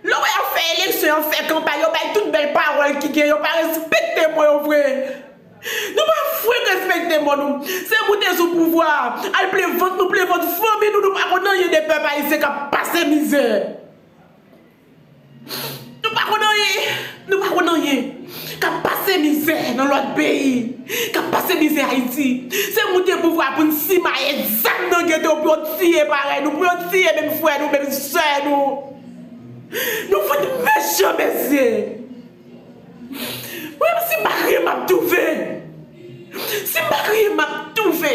Lè w wè y ap fè eleksyon, y ap fè kanpay, yo bay tout bèl pawòl ki gen, yo pa respekte mo yo vre. Nou pa fwenk respekte mo nou. Se pou te sou pouvwa a, al plen vant nou, plen vant fanmi nou, nou pa konn anyen de pèp ayisyen k ap pase mizè. Nou pa konn anyen, nou pa konn anyen Kap pase mizè nan lòt peyi Kap pase mizè Ayiti Se moun gen pouvwa pou n simaye zam nan geto pou yo tiye parèy nou Pou yo tiye menm frè nou, menm sè nou Nou fout mechan mesye Mwen menm sim pa kriye map toufe. Sim pa kriye map toufe.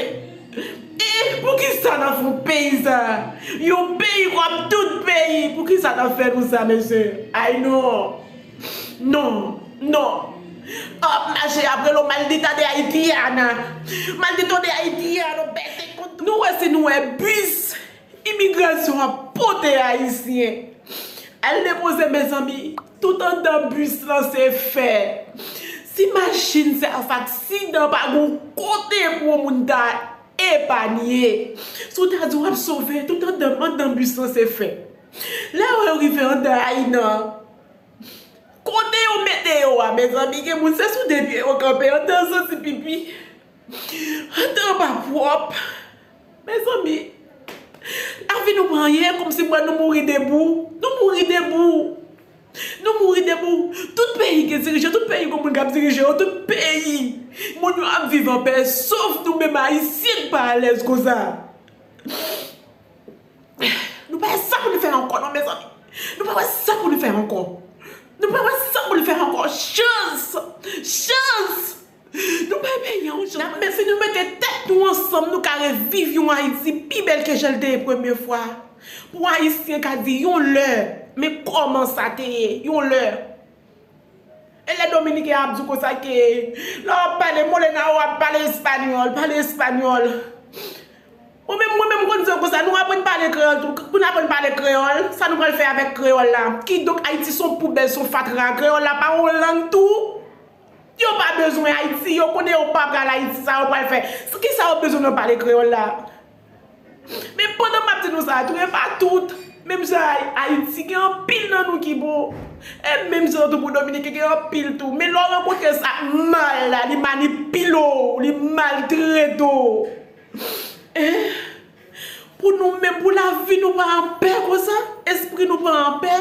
E poukisa nan fout peyi sa. Yon peyi kòm tout peyi poukisa nan fè nou sa mesye. Ay non. Non. Non. Ap mache apre lo maldita de Haitiana. Maldito de Haitiano pèse kont. Nou wè si nou wè bus imigrasyon ap pote ayisyen. Al depoze mezanmi. Tout andan bus lan se fè. Si machin sa fè aksidan pa gen yon kote pou yon moun ta epanye. Si w ta di w ap sove tout andan, andan bus lan se fè. Lè yo rive andan a inan an, kote yo mete yo a mezanmi gen moun se sou de pye yo kanpe andan santi pipi. Antann pa pwòp Mezanmi Lavi nou pa anyen Kòmsi m wè nou mouri debou Nou mouri debou Nou mouri debou Tout peyi gen dirijan Tout peyi gen moun k ap dirije yo Tout peyi Moun yo ap viv anpè Sof nou menm Ayisyen k pa alèz konsa Nou pa wè sa pou nou fè ankò non Mezanmi Nou pa wè sa pou nou fè ankò Nou pa wè sa pou nou fè ankò Chans Chans Nou pa vle yon jan. Nap mèsi nou mete tèt nou ansanm nou ka reviv yon Ayiti pi bèl ke jan l te ye premye fwa. Pou Ayisyen ka di yon lè men kòman sa te ye yon lè. E lè Dominiken ap di w konsa ke lè w ap pale Molena ou ap pale espanyòl, pale espanyòl. Mwen menm mwen menm m konn di yo konsa nou aprann pale kreyòl tou. Pou n aprann pale kreyòl, sa nou pral fè avèk kreyòl la? Kidonk Ayiti s on poubèl, s on fatra. Kreyòl la pa yon lang tou? Yo pa bezwen ayiti yo konnen yo pa pral ayiti sa yo pral fè sou kisa yo bezwen nan pale kreyòl la men pandan map di nou sa tou e pa tout menm jan a ayiti gen anpil nan nou ki bon e menm jan tou pou dominiken gen anpil tou men lè w rankontre sak mal la li manipile w li maltrete w. Pou nou menm, pou lavi nou pa anpè konsa, espri nou pa anpè,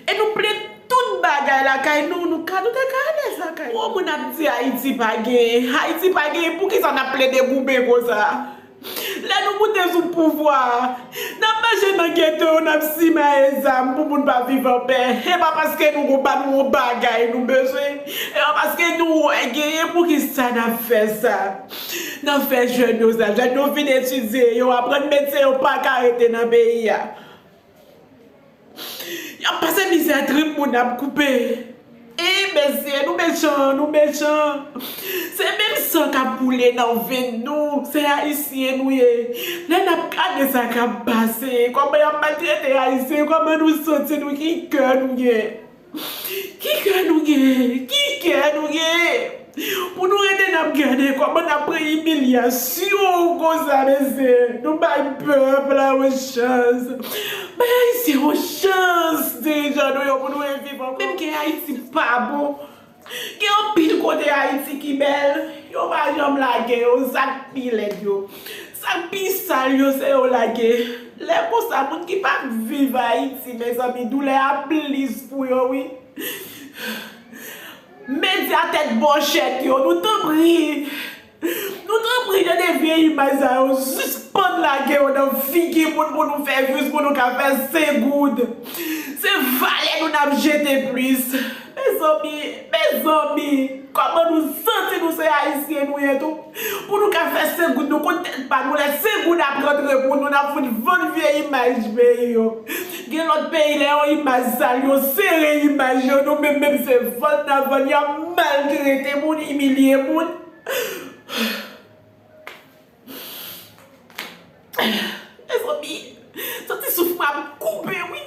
e nou plen tout bagay lakay nou, nou ka, nou te ka alèz lakay nou. Twò moun ap di Ayiti pa genyen, Ayiti pa genyen, pou kisa n'ap plede goumen konsa? Lè nou moute sou pouvwa a, n'ap mache nan geto yo, n'ap simaye zam pou moun pa viv anpè, e pa paske nou gon, ba nou yon bagay nou bezwen, e pa paske nou wè genyen, pou kisa n'ap fè sa? Nan fè jèn yo sa. Jèn yo fin etidye, yo aprann medsen yo paka rete nan peyi a. Yap pase mizè trip moun ap koupe. E mesye nou mechan nou mechan se menm san kap koule nan venn nou se ayisyen nou ye lè nap gade sa kap pase kòman yap maltrete ayisyen kòman nou santi nou ki kè nou gen. Ki kè nou gen, ki kè nou gen pou nou rete nap gade kòman nap pran imilyasyon konsa mesye, nou bay pèp la yon chans, bay ayisyen yon chans dirijan nou yo pou nou reviv ankò. Menm kè Ayiti pa bon. Gen anpil kote Ayiti ki bèl, yo pa janm lage yo, zak pi lèd yo, zak pi sal yo se yo lage. Lè konsa moun ki pap viv Ayiti mezanmi doulè a plis pou yo wi. Medya tèt bòchèt yo nou tanpri. Nou tanpri tande vye imaj sa yo sispann lage yo nan figi moun pou nou fè vues pou nou ka fè 5 goud se valè nou nap jete plis mezanmi mezanmi kòman nou santi nou se ayisyen nou ye tou pou nou ka fè 5 goud nou konn tèt pa nou lè 5 goud ap rantre pou nou nap fout vann vye imaj peyi yo. Gen lòt peyi lè yon imaj sal yo sere imaj yo nou menm menm se vann nan vann yap maltrete moun imilye moun. Mezanmi santi souf mwen ap koupe wi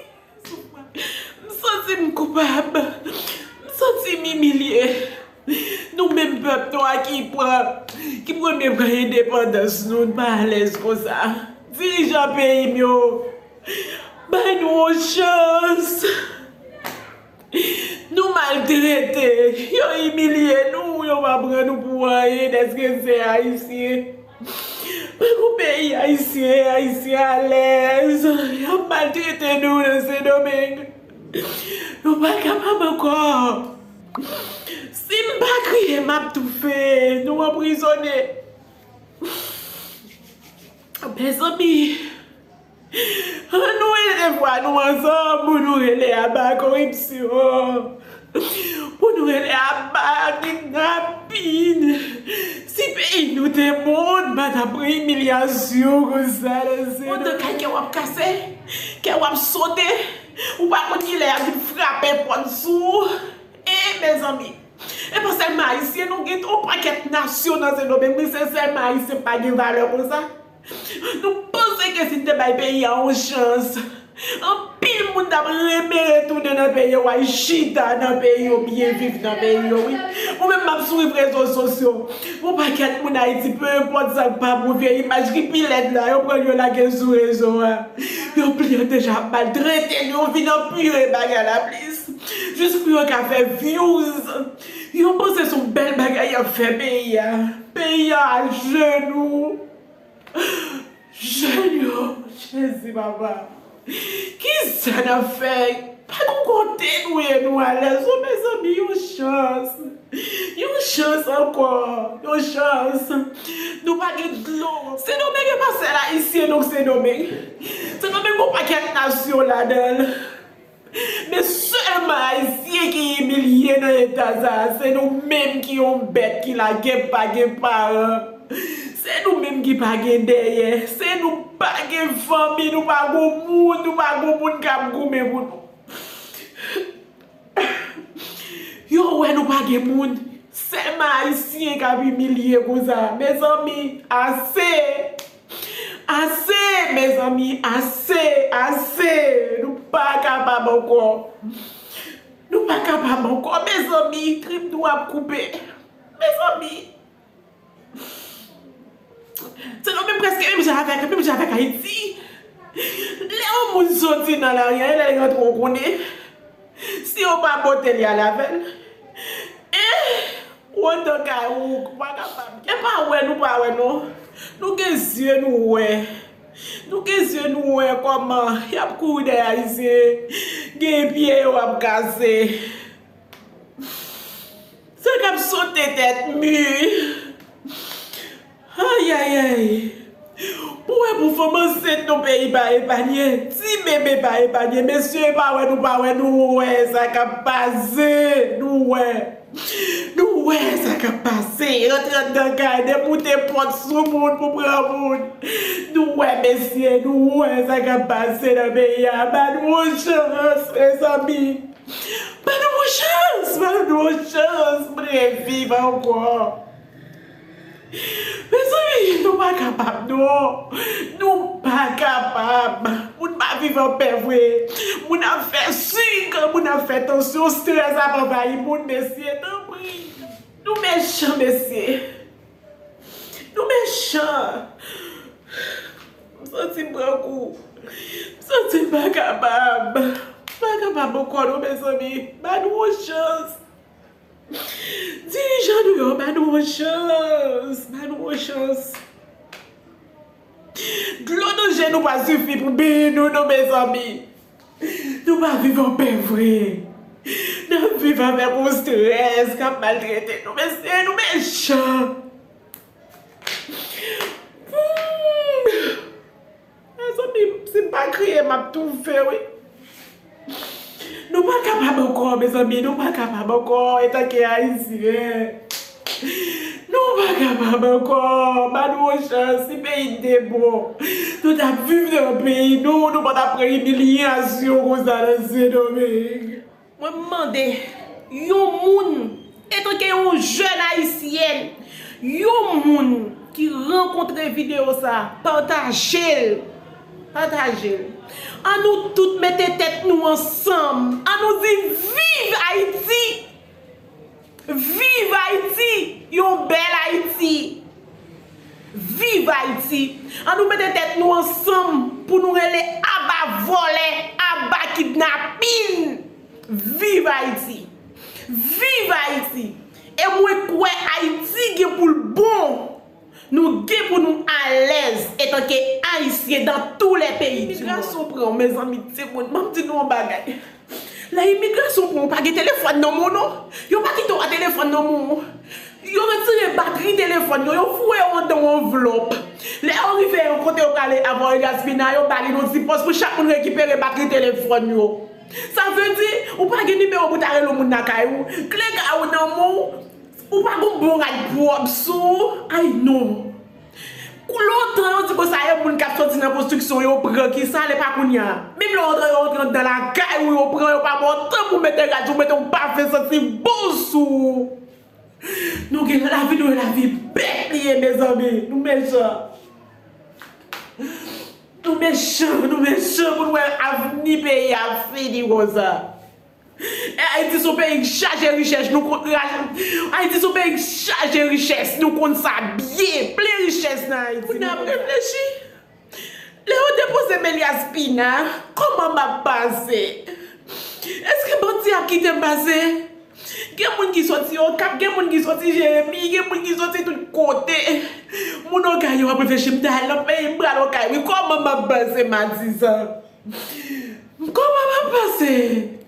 souf mwen m santi m koupab m santi m imilye nou menm pèp nwa ki pran ki premye pran endepandans nou n pa alèz konsa dirijan peyi m yo Bay nou yon chans. Nou maltrete, yo imilye nou, yo pa pran nou pou anyen dèske n se Ayisyen. Pa gon peyi Ayisyen, Ayisyen alèz. Y ap maltrete nou nan Sendomeng. Nou pa kapab ankò. Si m pa kriye m ap toufe, nou anprizone. Mezanmi An nou elve vwa nou ansanm pou nou rele aba koripsyon Pou nou rele aba kidnapin Si peyi nou te moun pa ta pran imilyasyon konsa nan se nou Pandan kay kèw ap kase Kèw ap sote Ou pa konn kilè yap vin frape pòt sou ou Eeh mezanmi. E pa sèlman ayisyen non gen yon pakèt nasyon nan sendomeng men se sèlman ayisyen pa gen valè konsa nou panse ke si n te bay peyi a yon chans anpil moun tap renmen retounen nan peyi yo al chita nan peyi yo byen viv nan peyi yo wi mwen menm map swiv rezo sosyo yon pakèt moun ayiti pe enpòt sa k pa bon vye imaj ki pi lèd la yo pran l yo lage l sou rezo a yon pil yo deja ap maltrete l yo vin anpire bagay la plis. Jis pou yo ka fè vyouz. Yo panse son bèl bagay yap fè peyi a. Peyi a ajenou. Jèn yo. Jezi papa. Kisa nap fè. Pa nou kote nou ye nou alèz non mezanmi yon chans. Yon chans ankò. Yon chans. Nou pa gen dlo ankò. Sendomeng e pa sèl ayisyen non sendomeng. Sendomeng gon pakèt nasyon ladanl. Men sèlman ayisyen ki imilye nan eta sa a se nou menm ki yon bèt ki la gen pa gen paran se nou menm ki pa gen dèyè se nou pa gen fanmi nou pa gon moun nou pa gon moun kap goumen pou nou yo wè nou pa gen moun sèlman ayisyen kap imilye konsa mezanmi ase. Ase! Mezanmi, ase! Ase! Nou pa kapab ankò! Nou pa kapab ankò, mezanmi! Trip nou ap koupe! Mezanmi! Se nou menm preske menm jan avèk, menm jan avèk Ayiti! Lè yon moun soti nan lari, anlè l rantre, ou konnen! Si yo pa pote li ale avèl eh ou andan kay ou ou pa kapab gen. Epa wè nou pa wè non nou gen zye nou wè nou gen zye nou wè kòman yap kouri dèyè ayisyen gen pye yo ap kase sa kap sote tèt mur. Ayayayy pou wè pou fanm ansent non peyi pa epanye ti bebe pa epanye mesye epa wè nou pa wè nou wè sa kap pase nou wè nou wè sa kap pase rantre andan kay demoute pòt sou moun pou pran moun nou wè mesye nou wè sa kap pase nan peyi a ba nou yon chans mezanmi ba nou yon chans ba nou yon chans mwen viv ankò. Mezanmi nou pa kapab non Nou pa kapab Moun pa viv anpè vre Moun ap fè sik Moun ap fè tansyon strès ap anvayi moun mesye tanpri Nou mechan mesye Nou mechan M santi m pran kou M santi m pa kapab M pa kapab ankò non mezanmi Ba nou yon chans Dirijan nou yo ba nou yon chans, ba nou yon chans. Dlo nan je nou pa sifi pou beny nou non mezanmi. Nou pa viv an pè vre. Nap viv avèk yon strès kap maltrete nou mesye nou mechan. Mezanmi si m pa kriye m ap toufe wi. Nou pa kapab ankò mezanmi nou pa kapab ankò etanke ayisyen nou pa kapab ankò ba nou yon chans si peyi n te bon nou ta viv nan peyi nou nou pa ta pran imilyasyon konsa nan sendomeng. Mwen m mande yon moun etanke yon jèn ayisyèn, yon moun ki rankontre videyo sa a pataje l, pataje l. An nou tout mete tèt nou ansanm, an nou di viv Ayiti! Viv Haiti yon bel Haiti. Viv Haiti an nou mete tèt nou ansanm pou nou rele aba vòlè aba kidnapin viv Haiti viv Haiti e mwen kwè Haiti gen pou l bon Nou gen pou nou alèz etanke ayisyen dan tou lè peyi di mond. Lè imigrasyon pran w mezanmi timoun map di nou yon bagay. Lè imigrasyon pran w pa gen telefòn nan moun ou. Yo pa kite w a telefòn nan moun ou. Yo retire batri telefòn yo, yo foure w andan yon anvlòp. Lè yo rive yon kote yo prale avwa yon yasmina yo ba li yon ti pòs pou chak moun rekipere batri telefòn yo. Sa vle di ou pa gen nimewo pou ta rele yon moun lakay ou. Kle kay ou nan men w. Ou pa gon bon rad pwòp sou ou ayy non. Kou lontan yo di konsa yo moun kap soti nan konstriksyon yo pran kisa lè pa kounya. Menm lè yo antre yo antre andan lakay ou yo pran yo pa baw tan pou mete rad yo mete yon pafen santi bon sou ou. Nou gen lavi nou gen lavi bèt li ye mezanmi nou mechan. Nou mechan nou mechan pou nou wè avni peyi a fini konsa. Ayiti son peyi k chaje richèch nou konn Ayiti son peyi k chaje richès nou konn sa byen plen richès nan Ayiti Moun ap reflechi Lè yo depoze men li a spina Kòman map pase Eske bandi ap kitem pase Gen moun ki soti okap gen moun ki soti jeremi gen moun ki soti tout kote Moun okay yo ap reflechi m ta al nan peyi m pral okay wi kòman map pase matizan. Koman map pase?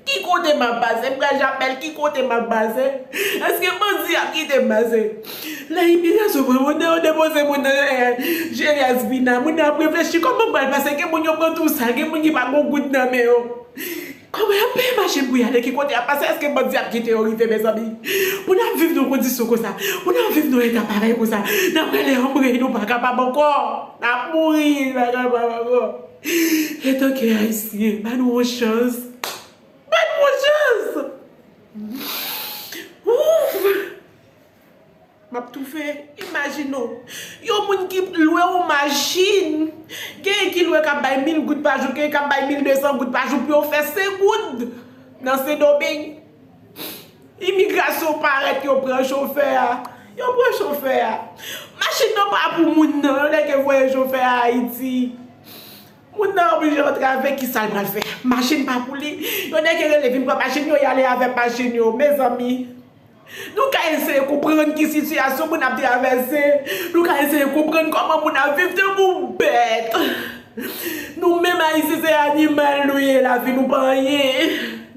Ki kote map pase? Mpral japel ki kote map pase? Eske bandi ap kite m pase? Lè imigrasyon pran moun nan yo depoze moun nan je Yasmina moun nan ap reflechi koman m pral pase gen moun yo pran tou sa gen moun ki pa gon goud nan men yo Koman yap peye machin pou yale ki kote yap pase eske bandi ap kite yo rive mezanmi pou nap viv nan kondisyon konsa pou nap viv nan eta parèy konsa nap rele anmweyy nou pa kapab ankò nap mouri nou pa kapab ankò. Etanke Ayisyen, ba nou yon chans! Ba nou yon chans! Ouf! M ap toufe! Imajine w, yon moun ki lwe yon machin, genyen ki lwe k ap bay mil goud pa jou, genyen k ap bay mil desan goud pa jou pou yo fè Sengoud nan Sendomeng. Imigrasyon parèt yo pran chofè a. Yo pran chofè a. Machin nan pa pou moun nan. Yo nèke voye chofè a Ayiti. Moun nan oblije antre avèk ki sal pral fè. Machin pa pou li. Yo nèke rele vin pran machin yo yale avèk machin yo. Mezanmi. Nou ka eseye konprann ki sitiyasyon moun ap travèse. Nou ka eseye konprann kòman moun ap viv tankou bèt. Nou menm ayisyen se animal nou ye lavi nou pa anyen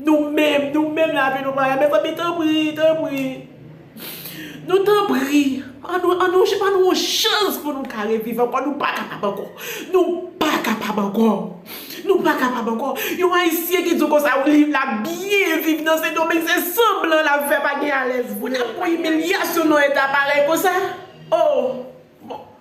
nou menm nou menm lavi nou pa anyen mezanmi tanpri tanpri nou tanpri an nou an nou jè ban nou yon chans pou nou ka reviv ankò nou pa kapab ankò nou pa kapab ankò nou pa kapab ankò yon ayisyen ki di w konsa wi l ap byen viv nan sendomeng se sanblan l ap fè pa gen alèz vre pou imilyasyon nan eta parèy konsa oo bon.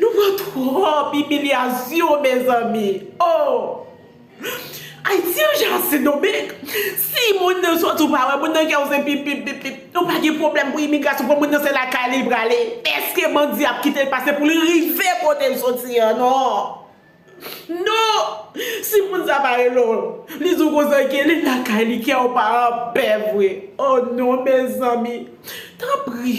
Nou pran trop imilyasyon mezanmi oh Ayiti an jan sendomeng si moun nan sòt ou pa wè moun nan kèw se pip pip pip nou pa gen pwoblèm pou imigrasyon fò moun nan se lakay li li prale eske bandi ap kitel pase poul rive kotel sòti an non non si moun sa pa rele w li di w konsa ok li lakay li kèw pa anpè vre oh non mezanmi tanpri.